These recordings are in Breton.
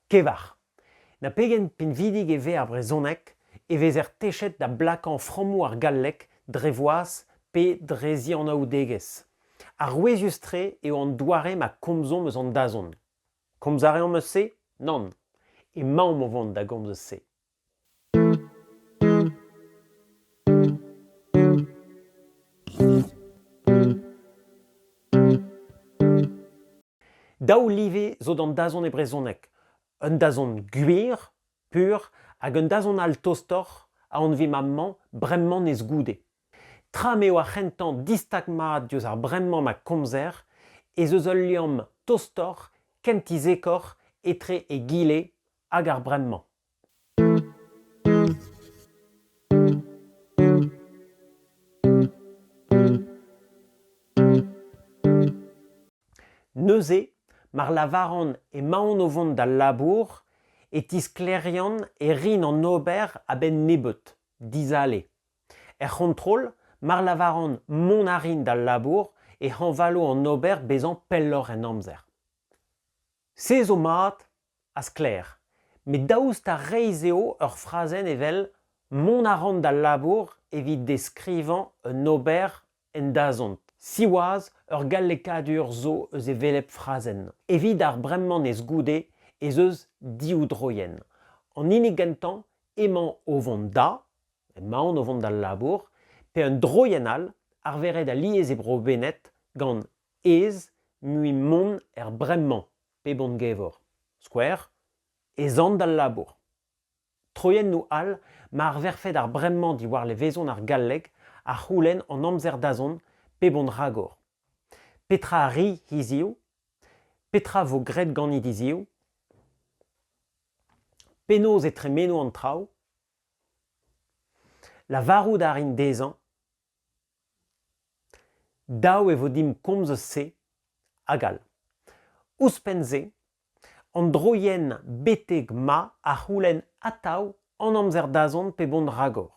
Kevar. Na pegen pinvidik e vez ar brezhoneg e vezer techet da blakañ frammoù ar galleg dre voaz pe dre zianaoudegezh. Arouezius-tre eo an doare ma komzomp eus an dazont. Komz a reomp eus se? Nann. Emaomp o vont da gomz eus se. Daou live zo d'an dazont e brezhoneg. Un dazont gwir, pur, hag un dazont all tostoc'h a anvimp amañ bremañ nes goude. Tra m'eo ar c'hentañ distag mat diouzh ar bremañ ma komzer ez eus ul liamm tostoc'h, kentizekoc'h etre egile hag ar bremañ. Neuze, mar lavaran emaon o vont d'al labour, e tisklêrian e rin an ober a-benn nebeut, dizale. Er c'hontrol, mar lavaran mont a rin d'al labour, e hañvalo an ober bezañ pelloc'h en amzer. Se zo mat, ha sklaer, met daoust ha reizh eo ur frazenn evel Mont a ran d'al labour evit deskrivañ un ober en dazont? Siwazh, ur gallekadur zo eus e velep frazenn. Evit ar bremañez goude ez eus div droienn. An hini gentañ emañ o vont da, emaon o vont d'al labour, pe un droienn all arveret alies e bro-Bened gant ez, mui mont er bremañ pep hon-gever. Skouer, ez an d'al labour. Troiennoù all ma arverfed ar bremañ diwar levezon ar galleg a c'houlenn hon amzer-dazont pep hon ragor. Petra a ri hiziv? Petra vo graet ganit hiziv? Penaos e tremeno an traoù? Lavarout a rin dezhañ Dav e vo dimp komz eus se hag all. Ouzhpenn-se, an droienn betek ma a c'houlenn atav an amzer-dazont pe vont ragor.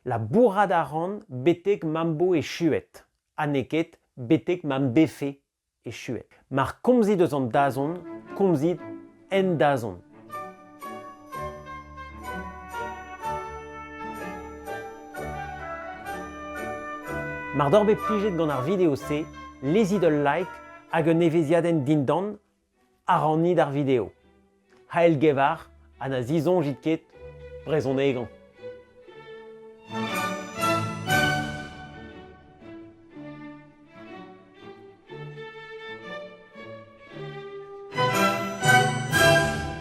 Labourat a ran betek ma'm bo echuet ha n'eo ket betek ma'm befe echuet. Mar komzit eus an dazont, komzit en dazont. Mar doc'h bet plijet gant ar video-se, lezit ul like hag un evezhiadenn dindan Aranit ar video. C'hell gevar ha na zisoñjit ket brezhonegañ.